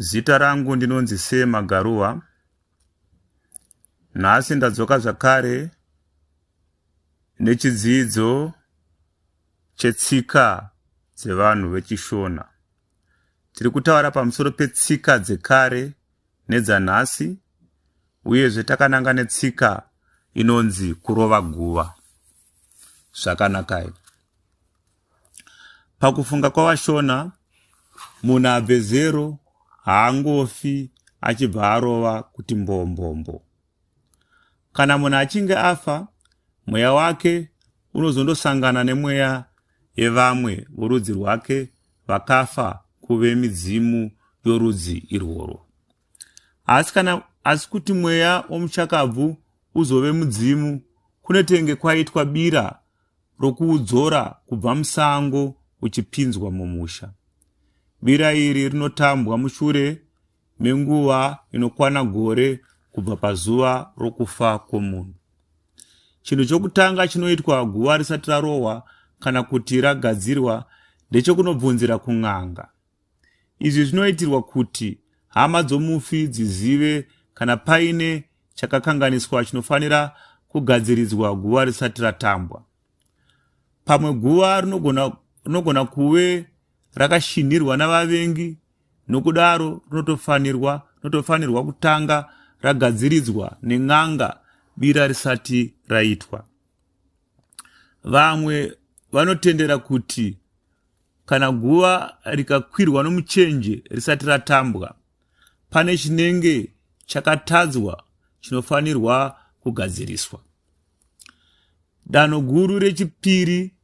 Zita rangu ndinonzi Sir Magaruwa. Nhasi ndadzoka zvakare nechidzidzo chetsika dzevanhu veChishona. Tiri kutaura pamusoro petsika dzekare nedzanhasi uyezve takananga netsika inonzi kurova guva. Zvakanakai. Pakufunga kwavaShona, munhu abve zero haangofi achibva arova kuti mbombombo. Kana munhu achinge afa, mweya wake unozondosangana nemweya yevamwe vorudzi rwake vakafa kuve midzimu yorudzi irworwo. Asi kana asi kuti mweya womuchakabvu uzove mudzimu kunetenge kwaitwa bira rokuudzora kubva musango uchipinzwa mumusha. Bira iri rinotambwa mushure menguva inokwana gore kubva pazuva rokufa kwomunhu. Chinhu chokutanga chinoitwa guva risati rarohwa kana kuti ragadzirwa ndechokunobvunzira kun'anga. Izvi zvinoitirwa kuti hama dzomufi dzizive kana paine chakakanganiswa chinofanira kugadziridzwa guva risati ratambwa. Pamwe guva rinogona, rinogona kuve rakashinhirwa navavengi nokudaro rinotofanirwa rinotofanirwa kutanga ragadziridzwa nen'anga bira risati raitwa. Vamwe vanotendera kuti kana guva rikakwirwa nomuchenje risati ratambwa pane chinenge chakatadzwa chinofanirwa kugadziriswa danho guru rechipiri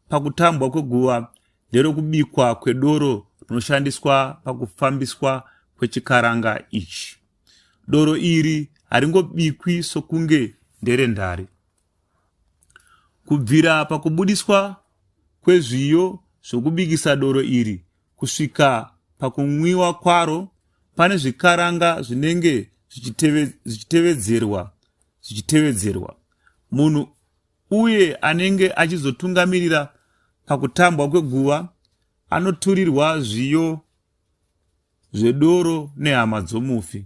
pakutambwa kweguva nderokubikwa kwedoro rinoshandiswa pakufambiswa kwechikaranga ichi doro iri haringobikwi sokunge nderendari Kubvira pakubudiswa kwezviyo zvokubikisa doro iri kusvika pakunwiwa kwaro, pane zvikaranga zvinenge zvichitevedzerwa zvichitevedzerwa. Munhu uye anenge achizotungamirira pakutambwa kweguva anoturirwa zviyo zvedoro nehama dzomufi.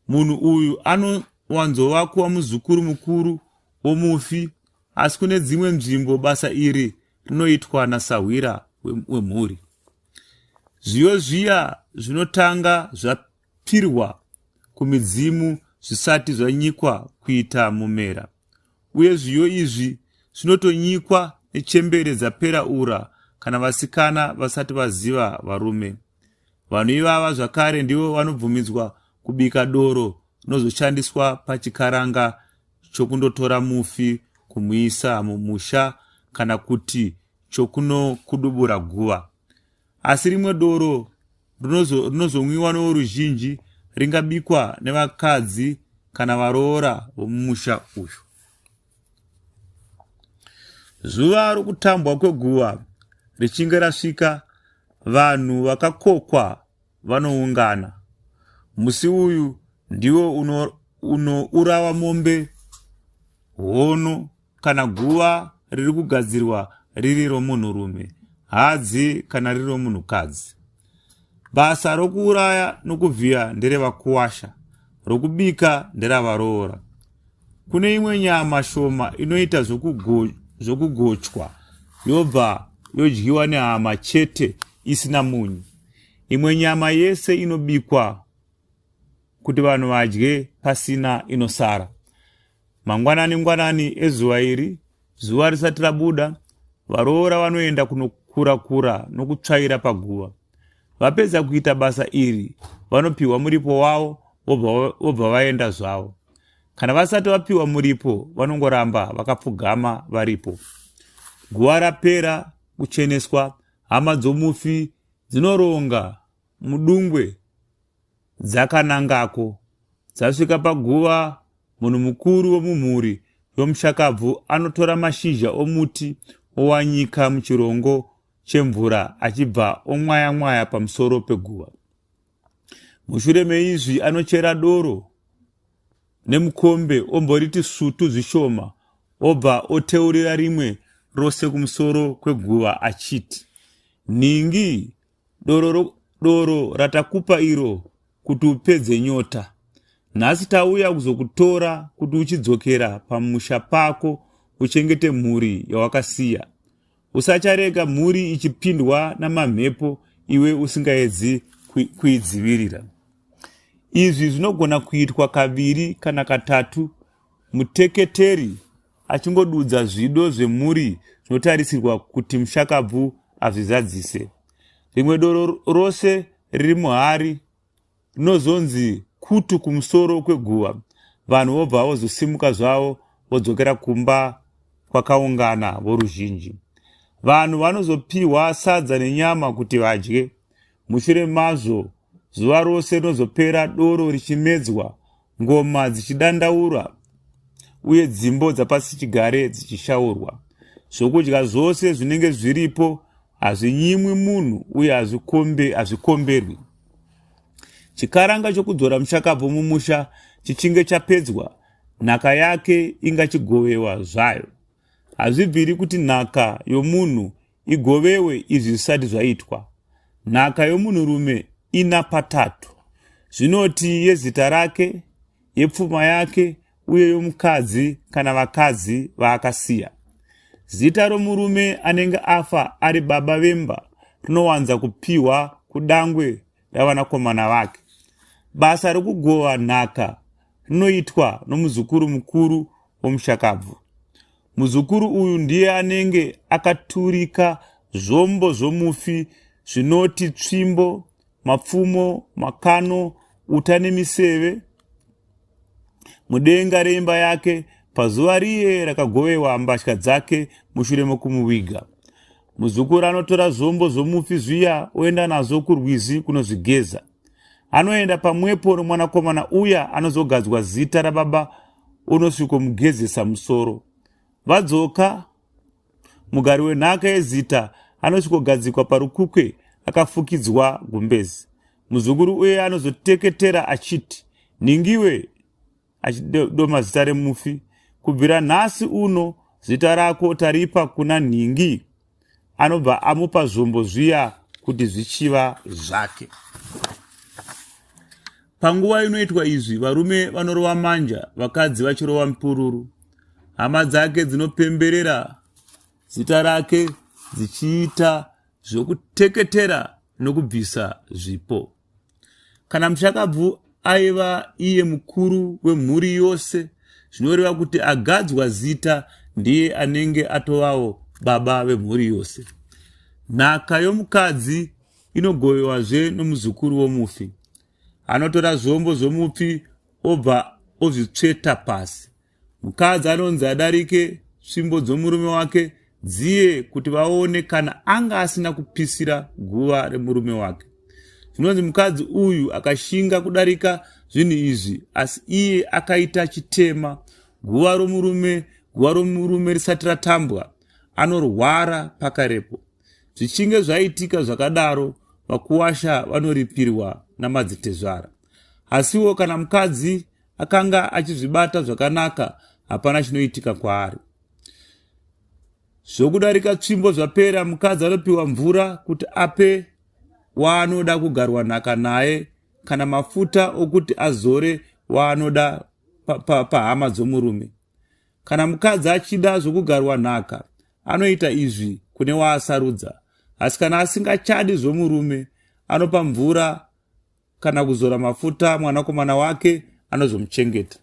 Munhu uyu anowanzova kuva muzukuru mukuru womufi, asi kune dzimwe nzvimbo basa iri rinoitwa nasahwira wemhuri. Zviyo zviya zvinotanga zvapirwa kumidzimu zvisati zvanyikwa kuita mumera, uye zviyo izvi zvinotonyikwa nechembere dzapera ura kana vasikana vasati vaziva varume. Vanhu ivava zvakare ndivo vanobvumidzwa kubika doro rinozoshandiswa pachikaranga chokundotora mufi kumuisa mumusha kana kuti chokunokudubura guva. Asi rimwe doro rinozomwiwa novoruzhinji ringabikwa nevakadzi kana varoora vomumusha uyu. zuva rokutambwa kweguva richinge rasvika vanhu vakakokwa vanoungana musi uyu ndiwo unourawa uno mombe hono kana guva riri kugadzirwa riri romunhurume hadzi kana riri romunhukadzi Basa rokuuraya nokuvhiya nderevakuwasha, rokubika nderavaroora. Kune imwe nyama shoma inoita zvokugochwa yobva yodyiwa nehama chete isina munyu. Imwe nyama yese inobikwa kuti vanhu vadye pasina inosara. Mangwanani ngwanani ezuva iri, zuva risati rabuda, varoora vanoenda kunokurakura nokutsvaira paguva. Vapedza kuita basa iri, vanopiwa muripo wavo vobva vaenda zvavo. Kana vasati vapiwa muripo, vanongoramba vakapfugama varipo. Guva rapera kucheneswa, hama dzomufi dzinoronga mudungwe Dzakanangako, dzasvika paguva, munhu mukuru wemumhuri yomushakabvu anotora mashizha omuti owanyika muchirongo chemvura achibva omwayamwaya pamusoro peguva. Mushure meizvi anochera doro nemukombe omboriti sutu zvishoma obva oteurira rimwe rose kumusoro kweguva achiti, Nhingi doro, ro, doro ratakupa iro kuti upedze nyota nhasi tauya kuzokutora kuti uchidzokera pamusha pako uchengete mhuri yawakasiya usacharega mhuri ichipindwa namamhepo iwe usingaedzi kuidzivirira izvi zvinogona kuitwa kaviri kana katatu muteketeri achingodudza zvido zvemhuri zvinotarisirwa kuti mushakabvu azvizadzise. Rimwe doro rose riri muhari rinozonzi kutu kumusoro kweguva, vanhu vobva vozosimuka zvavo vodzokera kumba kwakaungana voruzhinji. Vanhu vanozopiwa sadza nenyama kuti vadye. Mushure mazvo, zuva rose rinozopera doro richimedzwa ngoma dzichidandaura uye dzimbo dzapasichigare dzichishaurwa zvokudya zvose zvinenge zviripo hazvinyimwi munhu uye hazvikombe hazvikomberwi chikaranga chokudzora mushakabvu mumusha chichinge chapedzwa nhaka yake ingachigovewa zvayo hazvibviri kuti nhaka yomunhu igovewe izvi zvisati zvaitwa nhaka yomunhurume ina patatu zvinoti yezita rake yepfuma yake uye yomukadzi kana vakadzi vaakasiya zita romurume anenge afa ari baba vemba rinowanza kupiwa kudangwe ravanakomana vake basa rokugova nhaka rinoitwa nomuzukuru mukuru womushakabvu Muzukuru uyu ndiye anenge akaturika zvombo zvomufi zvinoti tsvimbo, mapfumo, makano, uta nemiseve mudenga reimba yake pazuva riye rakagovewa mbatya dzake mushure mokumuviga. Muzukuru anotora zvombo zvomufi zviya oenda nazvo kurwizi kunozvigeza. anoenda pamwepo nomwanakomana uya anozogadzwa zita rababa unosvikomugezesa musoro vadzoka mugari wenhaka yezita anosvikogadzikwa parukukwe akafukidzwa gumbezi muzukuru uye anozoteketera achiti nhingiwe achidoma zita remufi kubvira nhasi uno zita rako taripa kuna nhingi anobva amupa zvombo zviya kuti zvichiva zvake panguva inoitwa izvi varume vanorova manja vakadzi vachirova mipururu hama dzake dzinopemberera zita rake dzichiita zvokuteketera nokubvisa zvipo Kana mushakabvu aiva iye mukuru wemhuri yose, zvinoreva kuti agadzwa zita ndiye anenge atovawo baba vemhuri yose. Nhaka yomukadzi inogovewazve nomuzukuru womufi. Anotora zvombo zvomufi obva ozvitsveta pasi. Mukadzi anonzi adarike svimbo dzomurume wake dziye kuti vaone kana anga asina kupisira guva remurume wake. Zvinonzi mukadzi uyu akashinga kudarika zvinhu izvi asi iye akaita chitema guva romurume guva romurume risati ratambwa anorwara pakarepo. Zvichinge zvaitika zvakadaro vakuwasha vanoripirwa namadzitezvara. Asiwo kana mukadzi akanga achizvibata zvakanaka hapana chinoitika kwaari zvokudarika tsvimbo zvapera mukadzi anopiwa mvura kuti ape waanoda kugarwa nhaka naye kana mafuta okuti azore waanoda pahama pa, pa dzomurume kana mukadzi achida zvokugarwa nhaka anoita izvi kune waasarudza asi kana asingachadi zvomurume anopa mvura kana kuzora mafuta mwanakomana wake anozomuchengeta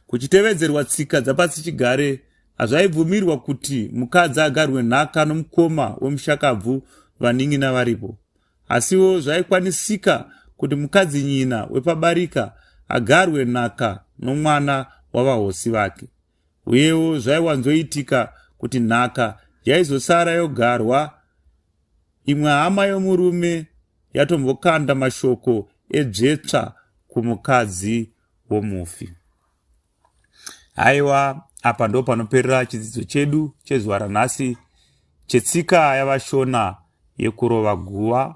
kuchitevedzerwa tsika dzapasi chigare hazvaibvumirwa kuti mukadzi agarwe nhaka nomukoma wemushakabvu vanin'ina varipo asiwo zvaikwanisika kuti mukadzi nyina wepabarika agarwe nhaka nomwana wavahosi vake Uyewo zvaiwanzoitika kuti nhaka yaizosara yogarwa imwe hama yomurume yatombokanda mashoko edzvetsva kumukadzi womufi haiwa apa ndo panoperera chidzidzo chedu chezuva ranhasi chetsika yavashona yekurova guva